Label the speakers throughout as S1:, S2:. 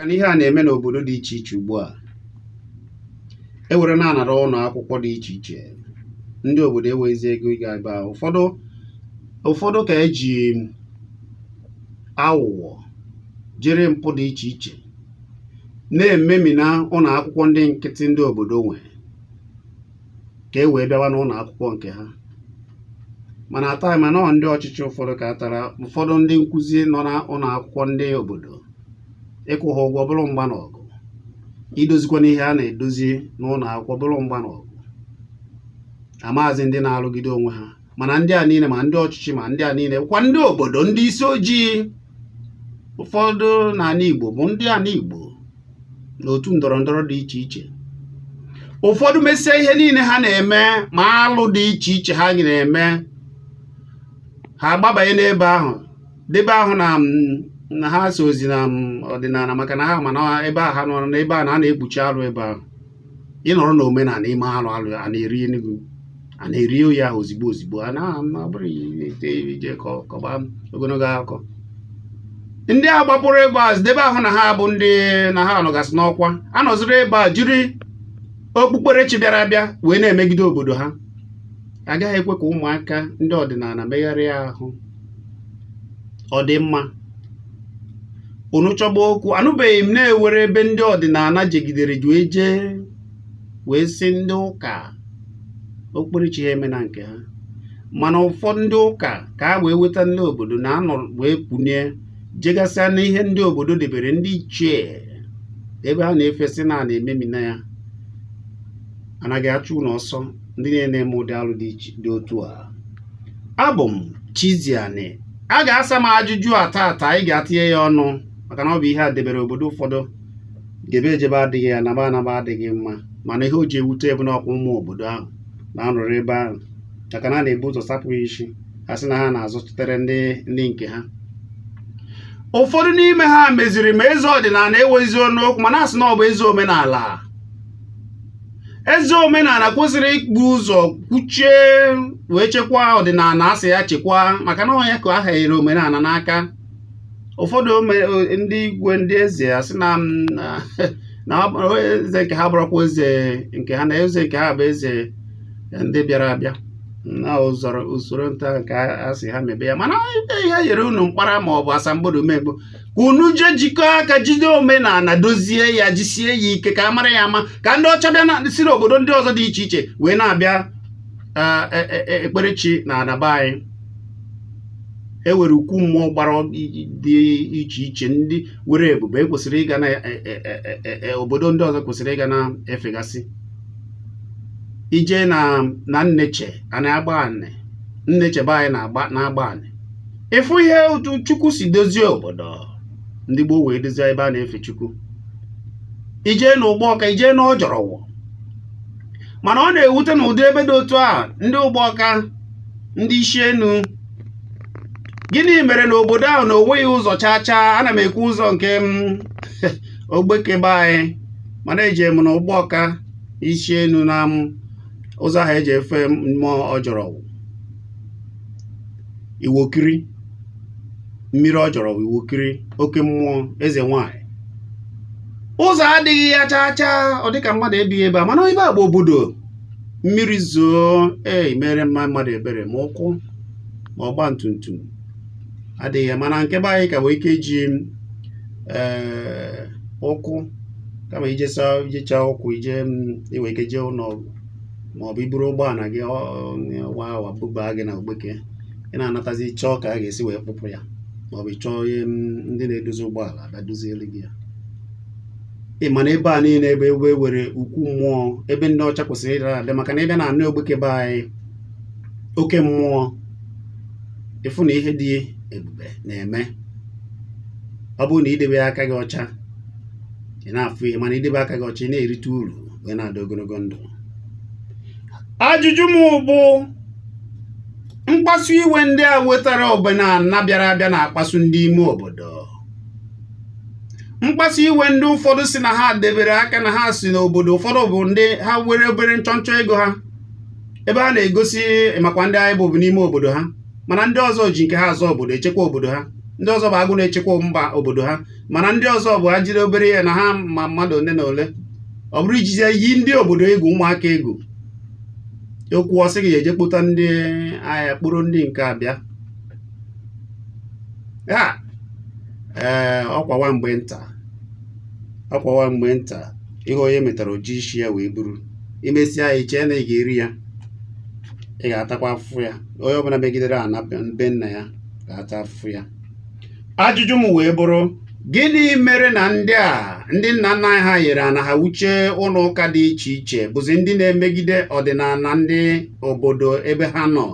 S1: na ihe a na-eme n'obodo dị iche iche ugbu a e were na-anara ụlọ akwụkwọ dị iche iche ndị obodo enwezi ego ịga ebe ahụ ụfọdụ ụfọdụ ka eji aghụghọ jiri mpụ dị iche iche na-ememina ụlọ akwụkwọ ndị nkịtị ndị obodo nwe ka e wee bịawa n'ụlọ akwụkwọ nke ha mana taa mana ọ ndị ọchịchị ụfọdụ kpatara ụfọdụ ndị nkụzi nọ na ụlọ akwụkwọ ndị obodo ịkwụ ha ụgwọ bụrụ mgba na ọgụ idozikwa n'ihe a na-edozi n'ụlọ akwụkwọ bụrụ mgba na ọgụ amaazị ndị na-arụgide onwe ha mana ndị a niile ma ndị ọchịchị ma ndị a niile kwa ndị obodo ndị isi ojii ụfọdụ n'ala Igbo bụ ndị ala Igbo n'otu ndọrọ ndọrọ dị iche iche ụfọdụ mesịa ihe niile ha na-eme ma alụ dị iche iche ha na-eme ha agbabanye n'ebe ahụ debe ahụ na na ha esozi na ọdịnala maka na ha ma na ebe a ha nọrọ n'ebe ahụ na a na-ekpuchi alụ ebe ahụ ị nọrọ na omenala i mee alụ alụ a na-eri enugwu a na-eri onye ahụ ozigbo ozigbo a na-abụrọ ije kọba ogologo akụkọ ndị a gbapụrụ ebe a debe ahụ na ha bụ ndị na ha nọgasị n'ọkwa anọziri ebe a jiri okpukperechi bịara abịa wee na-emegide obodo ha agaghị ekwe ka ụmụaka ndị ọdịnala megharịa ahụ ọ dị mma unu chọba okwu anụbeghị m na e nwere ebe ndị ọdịnala jegidere ju eje wee sị ndị ụka okpukperechi ha emena nke ha mana ụfọdụ ndị ụka ka a wee weta ndị obodo na anọ wee kwunye jegasịa na ihe ndị obodo debere ndị ichie ebe ha na-efesị na na-ememina ya anaghị achụ unu ọsọ ndị na-eme ụdị alụ dị otu a abụ m Chiziani a ga-asa m ajụjụ a taata anyị ga-atinye ya ọnụ maka na ọ bụ ihe a debere obodo ụfọdụ jebe ejebe adịghị anaba anaba adịghị mma mana ihe o ji ewute bụ na ọ kwa ụmụ obodo ahụ na-anọrọ ebe ahụ maka na a na-ebu ụzọ sapụ ha isi ha sị na ha na-azụchitere ndị nke ha ụfọdụ n'ime ha meziri ma eze ọdịnala enwezi ọnụ okwu ma na-asị na ọ bụ eze omenala eze omenala kwesịrị ibu ụzọ kwuchie wee chekwaa ọdịnala a sị ya chekwaa maka na ọ ya ka a hanyere omenala n'aka ụfọdụ ndị igwe ndị eze asị na eze nke ha bụrụkwa eze nke ha na eze nke ha bụ eze ndị bịara abịa na usoro nta nke a sị ha mebe ya mana ihe nyere unu mkpara ma ọ bụ asambodo ụmụ Igbo unu je jikọọ aka jide omenala dozie ya jisie ya ike ka a mara ya ama ka ndị ọcha bịa na siri obodo ndị ọzọ dị iche iche wee na-abịa e, e, e, ekperechi na ana be anyị e were ukwu mmụọ gbara dị iche iche ndị were ebube ekwesịrị ịga na obodo ndị ọzọ kwesịrị ịga na-efegasị ije na nneche ana agbanị nneche be anyị na agbanị ịfụ ihe otu chukwu si dozie obodo ndị gboo wee dozie ebe a na-efe chukwu ijee na ụgbọka ijee na ọjọrọwụ mana ọ na-ewute na ụdị ebe dị otu a ndị ụgbọka ndị isi enu gịnị mere na obodo ahụ na onweghị ụzọ chaa chaa ana m ekwu ụzọ nke ogbeke be anyị mana eje m na ụgbọka isi enu na ụzọ ahụ eji efe mmụọ ọjọrọwụ iwokiri mmiri ọjọrọwụ iwokiri oke mmụọ eze nwanyị ụzọ adịghị ya chaa chaa ọ dịka mmadụ ebighị ebe a mana ebe a bụ obodo mmiri zoo ee mere mma mmadụ ebere ma ụkwụ ma ọgba tum tum adịghị ya mana nke be anyị ka wee ike ji ee ụkwụ kama ijecha ụkwụ ije mm, iwe ike jee ụlọ ọgwụ ma ọ bụ iburu ụgbọala gị wa awa bubaa gị na ogbeke ị na-anatazi chọọ ka a ga-esi wee kpụpụ ya ma ọ bụ chọọ ihe ndị na-edozi ụgbọala abịa dozielu gị ya ị ma na ebe a niile ebe e were ukwu mmụọ ebe ndị ọcha kwesịrị ịdara abịa maka na ịbịa na anị ogbeke be anyị oke mmụọ ịfụ na ihe dị ebube na-eme ọ bụrụ na idebe aka gị ọcha ị na-afụ ihe mana idebe aka gị ọcha ị na-erite uru wee na-adị ogologo ndụ ajụjụ m bụ mkpasu iwe ndị a wetara omenala bịara abịa na-akpasu ndị ime obodo mkpasu iwe ndị ụfọdụ si na ha debere aka na ha si n'obodo ụfọdụ bụ ndị ha were obere nchọnchọ ego ha ebe ha na-egosi ị makwa ndị anyị bụ bụ n'ime obodo ha mana ndị ọzọ ji nke ha azọ obodo echekwa obodo ha ndị ọzọ bụ agụ na-echekwa mba obodo ha mana ndị ọzọ bụ ha jiri obere ihe na ha ma mmadụ ole na ole ọ bụrụ ijizi yi ndị obodo egwu ụmụaka egwu okwu ọsị gị eje kpọta ndị agha kpụrụ ndị nke abịa ya ee ọkwa wa mgbe nta ọkwa wa mgbe nta ihe onye metara oji isi ya wee buru imesịa ya ichee na ị ga-eri ya ị ga-atakwa afụfụ ya onye ọbụla megidere ana be nna ya ga-ata afụfụ ya ajụjụ m wee bụrụ gịnị mere na ndị a ndị nna nna anyị ha yere ana ha wuchie ụlọ ụka dị iche iche bụzi ndị na-emegide ọdịnala ndị obodo ebe ha nọ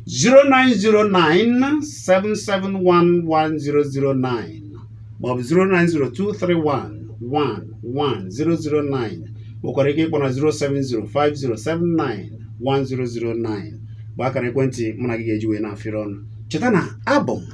S1: 09097711009 maọbụ 09023111009 nwekwara ike ịkpọ na 07050791009 bụ akara ekwentị mụ na gị ga-eji wee na-afịrị ọnụ cheta na abụ m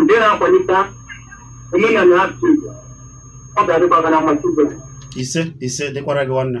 S2: ndị na-akwalite omenala asụsụ Igbo ọ ga-adịkwa gị na mma Chukwu. ise ise
S1: dịkwara gị nwanne